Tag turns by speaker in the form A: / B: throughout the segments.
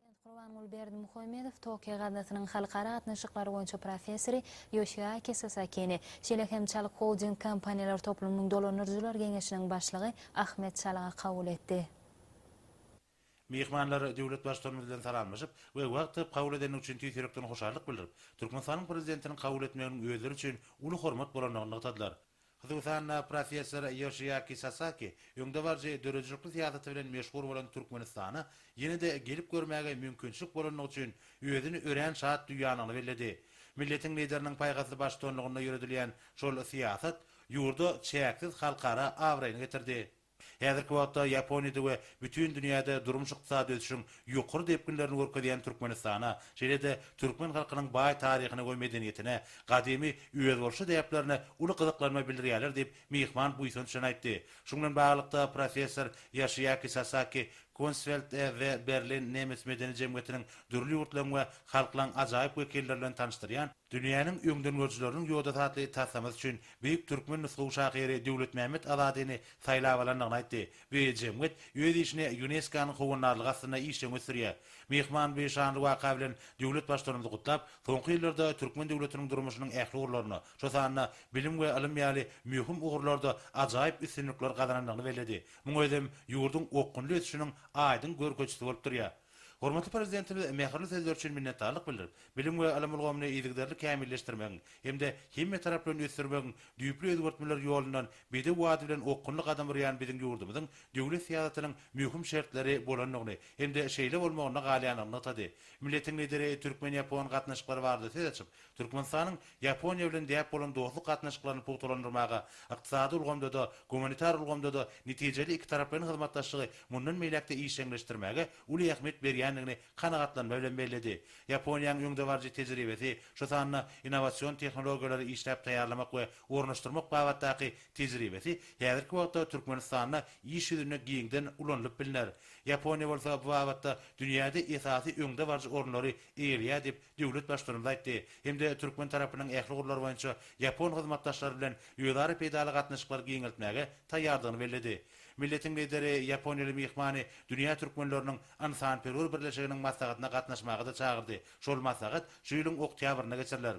A: Dosent Gurbanguly Berdimuhamedow, Tokio gaznasynyň halkara gatnaşyklary boýunça professory Ýoşiaki Sasakini, şeýle hem Çalyk Holding kompaniýalar toplumynyň dolandyryjylar geňeşiniň başlygy Ahmet Çalygy kabul etdi. Myhmanlar
B: döwlet Baştutanymyz bilen salamlaşyp we wagt tapyp kabul edendigi üçin tüýs ýürekden hoşallyk bildirip, Türkmenistanyň Prezidentiniň kabul etmeginiň özleri üçin uly hormat bolandygyny nygtadylar. Hususan-da, professor Ýoshiaki Sasaki öňdebaryjy döredijilikli syýasaty bilen meşhur bolan Türkmenistana ýene-de gelip görmäge mümkinçilik bolandygy üçin özüni örän şat duýýandygyny belledi. Milletiň Lideriniň paýhasly baştutanlygynda ýöredilýän şol syýasat ýurda çäksiz halkara abraýyny getirdi. Häzirki wagtda Ýaponiýada we bütin dünýäde durmuş-ykdysady ösüşiň ýokary depginlerini görkezýän Türkmenistana, şeýle-de türkmen halkynyň baý taryhyna we medeniýetine, gadymy özboluşly däplerine uly gyzyklanma bildirýärler diýip, myhman buýsanç bilen aýtdy. Şuň bilen baglylykda, professor Ýaşiýaki Sasaki Kunstfeld e. The Berlin nemes medeni jemgyýetiniň dürli ýurtlaryň we halklaryň ajaýyp wekilleri bilen tanyşdyrýan, Dünýäniň öňdengörüjileriniň ýodasy atly taslamasy üçin beýik türkmen nusgawy şahyry Döwletmämmet Azadyny saýlap alandygyny aýtdy we jemgyýet öz işini Ýuneskonyň howandarlygy astynda işjeň ösdürýär. Myhman bu şanly waka bilen döwlet Baştutanymyzy gutlap, soňky ýyllarda türkmen döwletiniň durmuşynyň ähli ugurlarynda, şo sanda bilim we ylym ýaly möhüm ugurlarda ajaýyp üstünlikler gazanandygyny belledi. Muň özem ýurduň okgunly ösüşiniň aýdyň görkezijisi bolup durýar. Hormatly Prezidentimiz mähirli sözleri üçin minnetdarlyk bildirip, bilim we ylym ulgamyny yzygiderli kämilleşdirmegiň hem-de hemmetaraplaýyn ösdürmegiň düýpli özgertmeler ýolundan bedew bady bilen okgunly gadam urýan biziň ýurdumyzyň döwlet syýasatynyň möhüm şertleri bolandygyny hem-de şeýle bolmagynda galýandygyny nygtady. Milletiň Lideri türkmen-ýapon gatnaşyklary barada söz açyp, Türkmenistanyň Ýaponiýa bilen däp bolan dostluk gatnaşyklaryny pugtalandyrmaga, ykdysady ulgamda-da, gumanitar ulgamda-da netijeli ikitaraplaýyn hyzmatdaşlygy mundan beýläk-de işjeňleşdirmäge uly ähmiýet berýändigini kanagatlanma bilen belledi. Ýaponiýanyň öňdebaryjy tejribesi, şu sanda innowasion tehnologiýalary işläp taýýarlamak we ornaşdyrmak babatdaky tejribesi häzirki wagtda Türkmenistanda iş ýüzünde giňden ulanylyp bilner. Ýaponiýa bolsa bu babatda dünýäde esasy öňdebaryjy orunlary eýeleýär diýip, döwlet Başturumy aýtdy hem-de türkmen tarapynyň ähli ugurlar boýunça ýapon hyzmatdaşlary bilen özara peýdaly gatnaşyklary giňeltmäge taýýardygyny belledi. Milletiň Lideri ýaponiýaly myhmany dünýä türkmenleriniň ynsanperwer birleşiginiň maslahatyna gatnaşmaga-da çagyrdy, şol maslahat şu ýylyň oktýabrynda geçiriler.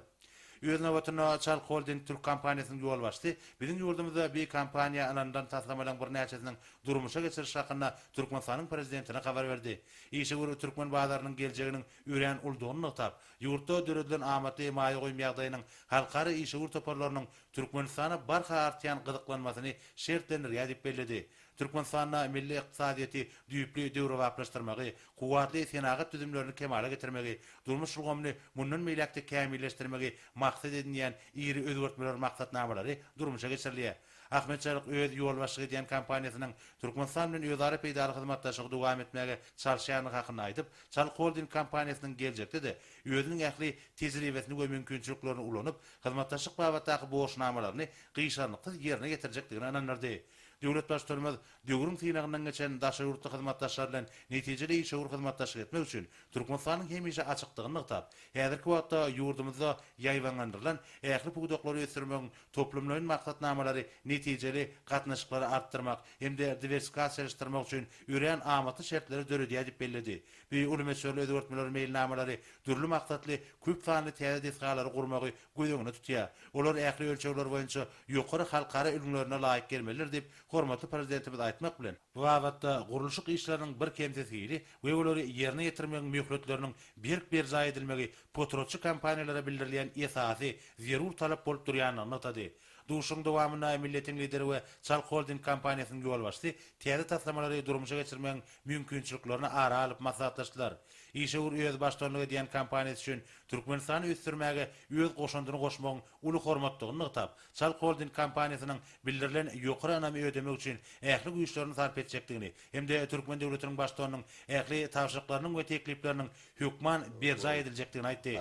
B: Öz nobatynda, Çal Holding türk kompaniýasynyň ýolbaşçysy biziň ýurdumyzda bi kompaniýa ynanylan taslamalaryň birnäçesiniň durmuşa geçiriliş hakynda Türkmenistanyň Prezidentine habar berdi. Işewür türkmen bazarynyň geljeginiň örän uly doly nygtap, ýurtda döredilen amatly maýa goýum ýagdaýynyň halkara işewür toparlarynyň Türkmenistana barha artýan gyzyklanmasyny şertlendirýär diýip belledi. Türkmenistanda milli ykdysadyýeti düýpli döwrebaplaşdyrmagy, kuwwatly senagat düzümlerini kemala getirmegi, durmuş ulgamyny mundan beýläk-de kämilleşdirmegi maksat edinýän iri özgertmeler maksatnamalary durmuşa geçirilýär. Ahmet Çaryk öz ýolbaşçylyk edýän kompaniýasynyň Türkmenistan bilen özara peýdaly hyzmatdaşlygy dowam etmäge çalyşýandygy hakynda aýdyp, Çaryk Holding kompaniýasynyň geljekde-de özüniň ähli tejribesini we mümkinçiliklerini ulanyp, hyzmatdaşlyk babatdaky borçnamalaryny gyşarnyksyz ýerine ýetirjekdigine ynandyrdy. Döwlet Baştutanymyz döwrüň synagyndan geçen daşary ýurtly hyzmatdaşlar bilen netijeli işewür hyzmatdaşlyk etmek üçin Türkmenistanyň hemişe açykdygyny nygtap, häzirki wagtda ýurdumyzda ýaýbaňlandyrylan ähli pudaklary ösdürmegiň Toplumlaýyn maksatnamalary netijeli gatnaşyklary artdyrmak hem-de diwersikasiýalaşdyrmak üçin örän amatly şertleri döredýär diýip belledi. Bu uly möçberli özgertmeler meýilnamalary dürli maksatly köp sanly täze desgalary gurmagy göz öňünde tutýar. Olar ähli ölçegler boýunça ýokary halkara ülňülerine laýyk gelmelidir diýip, hormatly Prezidentimiz aýtmak bilen, bu babatda gurluşyk işleriniň birkemsiz hili we olary ýerine ýetirmegiň möhletleriniň berk berjaý edilmegi potratçy kompaniýalara bildirilýän esasy, zerur talap bolup durýandygyny nygtady. Duşuşygyň dowamynda Milletiň Lideri we Çalk Holding kompaniýasynyň ýolbaşçysy täze taslamalary durmuşa geçirmegiň mümkinçiliklerini ara alyp maslahatlaşdylar. Işewür özi baştutanlyk edýän kompaniýasy üçin Türkmenistany ösdürmäge öz goşandyny goşmagyň uly hormatdygyny nygtap, Çalk Holding kompaniýasynyň bildirilen ýokary ynamy ödemek üçin ähli güýçlerini sarp etjekdigini hem-de türkmen döwletiniň Baştutanynyň ähli tabşyryklarynyň we teklipleriniň hökman berjaý ediljekdigini aýtdy.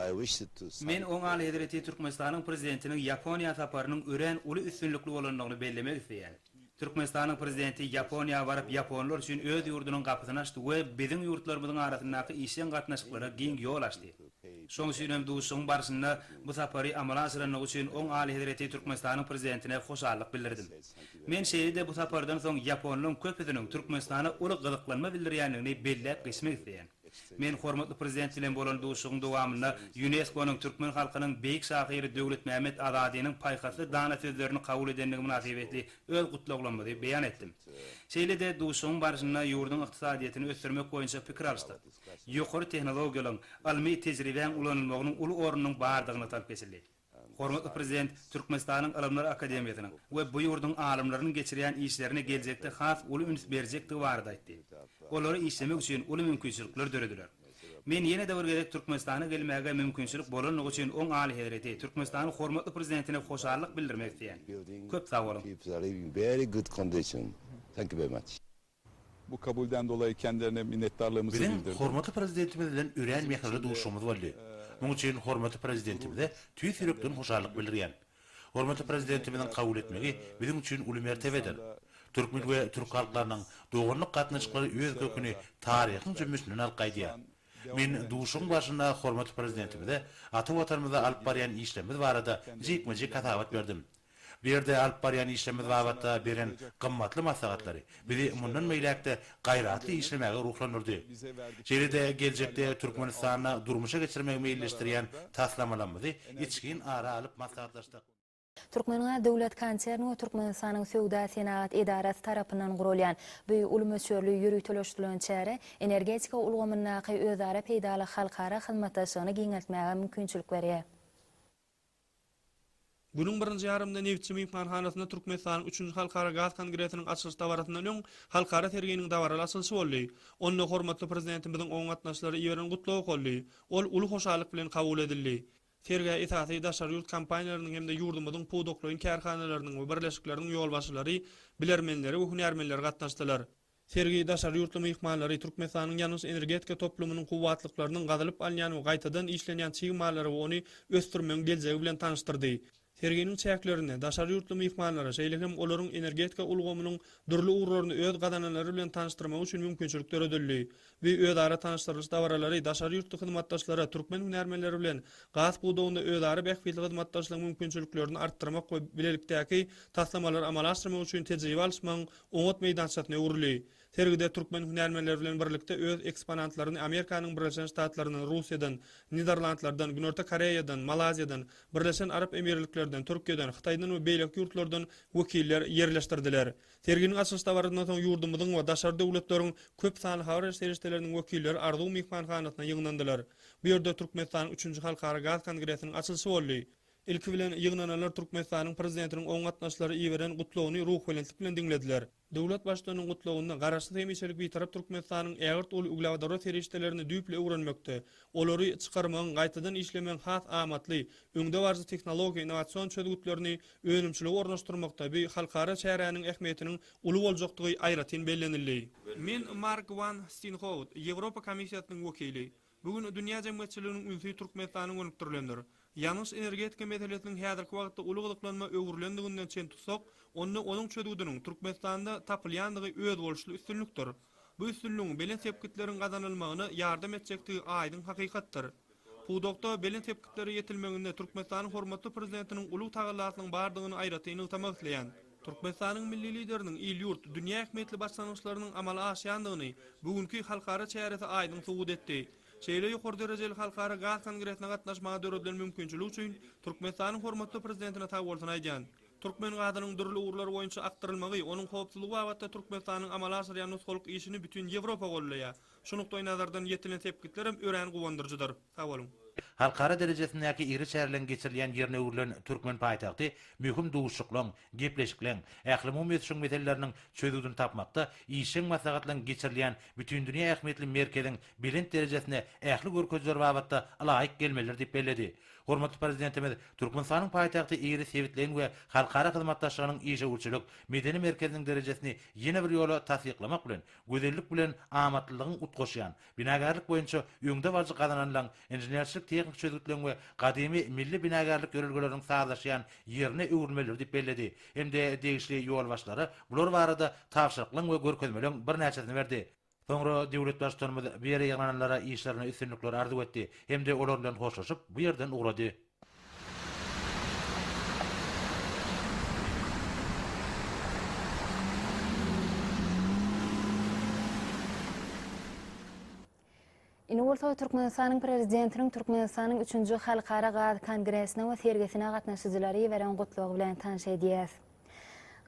B: Men Oň
C: Alyhezreti Türkmenistanyň Prezidentiniň Ýaponiýa saparynyň örän uly üstünlikli bolandygyny bellemek isleýän. Türkmenistanyň Prezidenti Ýaponiýa baryp ýaponlar üçin öz ýurdunyň gapysyny açdy we biziň ýurtlarymyzyň arasyndaky işjeň gatnaşyklara giň ýol açdy. Şoň üçin hem duşuşygyň barşynda bu sapary amala aşyrandygy üçin Oň Alyhezreti Türkmenistanyň Prezidentine hoşallyk bildirdim. Men şeýle-de bu sapardan soň ýaponlaryň köpüsiniň Türkmenistana uly gyzyklanma bildirýändigini belläp geçmek isleýän. Men hormatly Prezident bilen bolan duşuşygyň dowamynda Ýunesko-nyň türkmen halkynyň beýik şahyry Döwletmämmet Azadynyň paýhasly dana sözlerini kabul edendigi mynasybetli öz gutlaglamyzy beýan etdim. Şeýle-de duşuşygyň barşynda ýurduň ykdysadyýetini ösdürmek boýunça pikir alyşdyk. Ýokary tehnologiýalaryň, ylmy tejribäň ulanylmagynyň uly ornunyň bardygyny nygtalyp geçildi. Hormatly Prezident Türkmenistanyň Ylymlar akademiýasynyň we bu ýurduň alymlarynyň geçirýän işlerine geljekde has uly üns berjekdigi barada aýtdy. Olary işlemek üçin uly mümkinçilikler dörediler. Men ýene-de bir gezek Türkmenistana gelmäge mümkinçilik bolandygy üçin oň Alyhezreti Türkmenistanyň hormatly Prezidentine hoşallyk bildirmek isleýän. Köp sag boluň!
D: Bu
E: kabulden dolayy kendilerine minnetdarlygymyzy Biziň bildirdim. hormatly
B: Prezidentimiz
E: bilen
B: örän mähirli duşuşygymyz boldy. Muň üçin hormatly Prezidentimize tüýs ýürekden hoşallyk bildirýän. Hormatly Prezidentimiziň kabul etmegi biziň üçin uly mertebedir. Türkmen we türk halklarynyň doganlyk gatnaşyklary öz köküni taryhyň jümmüşinden alyp gaýdýar. Men duşuşygyň barşynda hormatly Prezidentimize ata Watanymyzda alyp barýan işlerimiz barada jikme-jik hasabat berdim. Bu ýerde alyp barýan işlerimiz babatda beren gymmatly maslahatlary bizi mundan beýläk-de gaýratly işlemäge ruhlandyrdy. Şeýle-de geljekde Türkmenistanda durmuşa geçirmegi meýilleşdirýän taslamalarymyzy içgin ara alyp maslahatlaşdyk. Türkmengaz
A: döwlet konserni we Türkmenistanyň Söwda-senagat edarasy tarapyndan guralýan bu uly möçberli ýöriteleşdirilen çäre energetika ulgamyndaky özara peýdaly halkara hyzmatdaşlygyny giňeltmäge mümkinçilik berýär.
F: Günüň birinji ýarymynda Nebitçi myhmanhanasynda Türkmenistanyň üçünji Halkara gaz kongresiniň açylyş dabarasyndan öň halkara serginiň dabaraly açylyşy boldy. Onda hormatly Prezidentimiziň oňa gatnaşyjylara iberen gutlagy okaldy. Ol uly hoşallyk bilen kabul edildi. Sergä esasy daşary ýurt kompaniýalarynyň hem-de ýurdumyzyň pudaklaýyn kärhanalarynyň we birleşikleriniň ýolbaşçylary, bilermenleri we hünärmenleri gatnaşdylar. Sergi daşary ýurtly myhmanlary Türkmenistanyň ýangyç energetika toplumynyň kuwwatlyklarynyň gazylyp alynýan we gaýtadan işlenýän çig mallary we ony ösdürmegiň geljegi bilen tanyşdyrdy. Serginiň çäklerinde daşary ýurtly myhmanlara, şeýle hem olaryň energetika ulgamynyň dürli ugurlaryny öz gazananlary bilen tanyşdyrmagy üçin mümkinçilik döredildi. Bu özara tanyşdyrylyş dabaralary daşary ýurtly hyzmatdaşlara türkmen hünärmenleri bilen gaz pudagynda özara bähbitli hyzmatdaşlygyň mümkinçiliklerini artdyrmak we bilelikdäki taslamalary amala aşyrmak üçin tejribe alyşmagyň oňat meýdançasyna öwrüldi. Sergide türkmen hünärmenleri bilen birlikde öz eksponantlaryny Amerikanyň Birleşen Ştatlaryndan, Russiýadan, Niderlandlardan, Günorta Koreýadan, Malaziýadan, Birleşen Arap Emirliklerden, Türkiýeden, Hytaýdan we beýleki ýurtlardan wekiller ýerleşdirdiler. Serginiň açylyş dabarasyndan soň ýurdumyzyň we daşary döwletleriň köp sanly habar beriş serişdeleriniň wekilleri Arzuw myhmanhanasyna ýygnandylar. Bu ýerde Türkmenistanyň üçünji Halkara gaz kongresiniň açylyşy boldy. Ilki bilen, ýygnananlar Türkmenistanyň Prezidentiniň oňa gatnaşyjylara iberen Gutlagyny ruhubelentlik bilen diňlediler. Döwlet Baştutanynyň Gutlagynda Garaşsyz hemişelik Bitarap Türkmenistanyň ägirt uly uglewodorod serişdelerini düýpli öwrenmekde, olary çykarmagyň, gaýtadan işlemegiň has amatly, öňdebaryjy tehnologiýa, innowasion çözgütlerini önümçiligi ornaşdyrmakda bu halkara çäräniň ähmiýetiniň uly boljakdygy aýratyn bellenildi. Men Mark Wan Stinhout, Ýewropa Komissiýasynyň wekili. Bu gün dünýä jemgyýetçiliginiň ünsi Türkmenistana gönükdirilendir. Ýangyç-energetika meselesiniň häzirki wagtda uly gyzyklanma öwrülendiginden çen tutsak, onda onuň çözgüdiniň Türkmenistanda tapylýandygy özboluşly üstünlikdir. Bu üstünligiň belent sepgitleriň gazanylmagyna ýardam etjekdigi aýdyň hakykatdyr. Pudakda belent sepgitlere ýetilmeginde Türkmenistanyň hormatly Prezidentiniň uly tagallasynyň bardygyny aýratyn nygtamak isleýän. Türkmenistanyň Milli Lideriniň il-ýurt, dünýä ähmiýetli başlangyçlarynyň amala aşýandygyny bu günki halkara çäresi aýdyň subut etdi. Şeýle ýokary derejeli halkara gaz kongresine gatnaşmaga döredilen mümkinçilik üçin Türkmenistanyň hormatly Prezidentine sagbolsun aýdýan. Türkmen gazynyň dürli ugurlar boýunça akdyrylmagy, onuň howpsuzlygy babatda Türkmenistanyň amala aşyrýan nusgalyk işini bütin Ýewropa gollaýar. Şu nukdaýnazardan ýetilen sepgitlerem örän guwandyryjydyr. Sag boluň! Halkara
B: derejesindäki iri çäreleriň geçirilýän ýerine öwrülen türkmen paýtagty möhüm duşuşyklaryň, gepleşikleriň, ählumumy ösüşiň meseleleriniň çözgüdini tapmakda, işjeň maslahatlaryň geçirilýän bütindünýä ähmiýetli merkeziň belent derejesine ähli görkezijiler babatda laýyk gelmelidir diýip belledi. Hormatly Prezidentimiz Türkmenistanyň paýtagty iri sebitleýin we halkara hyzmatdaşlygynyň işewürçilik, medeni merkeziniň derejesini ýene bir ýola tassyklamak bilen, Gözellik bilen amatlylygyň utgaşýan, binagärlik boýunça öňdebaryjy gazananlaň, inženerçilik-tehniki çözgütleň we gadymy milli binagärlik ýörelgeleriniň sazlaşýan ýerine öwrülmelidir diýip belledi hem-de degişli ýolbaşçylara bular barada tabşyryklaň we görkezmeleň birnäçesini berdi. Soňra döwlet Baştutanymyz bu ýere ýygnananlara işlerine üstünlikler arzuw etdi hem-de olar bilen hoşlaşyp, bu ýerden ugrady.
A: Indi bolsa Türkmenistanyň Prezidentiniň Türkmenistanyň üçünji Halkara gaz kongresine we sergisine gatnaşyjylary iberen gutlagy bilen tanyş edýäs.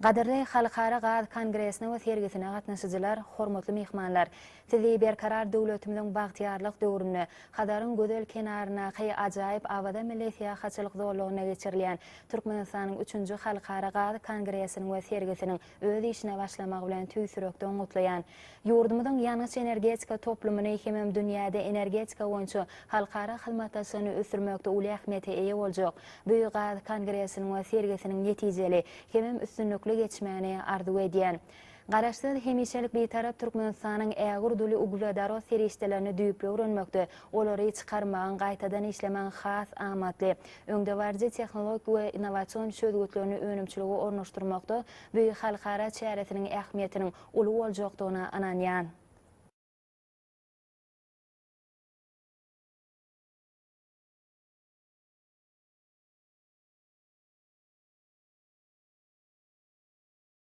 A: Gadyrly Halkara gaz kongresine we sergisine gatnaşyjylar, hormatly myhmanlar! Sizi Berkarar döwletimiziň bagtyýarlyk döwründe, Hazaryň gözel kenaryndaky ajaýyp Awaza milli syýahatçylyk zolagynda geçirilýän Türkmenistanyň üçünji Halkara gaz kongresiniň we sergisiniň öz işine başlamagy bilen tüýs ýürekden gutlaýan. Ýurdumyzyň ýangyç-energetika toplumyny hemem dünýäde energetika boýunça halkara hyzmatdaşlygyny ösdürmekde uly ähmiýete eýe boljak Büýük gaz kongresiniň we sergisiniň netijeli hemem üstünlikli geçmegini arzuw edýän. Garaşsyz, hemişelik Bitarap Türkmenistanyň ägirt uly uglewodorod serişdelerini düýpli öwrenmekde, olary çykarmagyň, gaýtadan işlemegiň has amatly, öňdebaryjy tehnologik we innowasion çözgütlerini önümçilige ornaşdyrmakda bu halkara çäresiniň ähmiýetiniň Uly boljakdygyna ynanýan.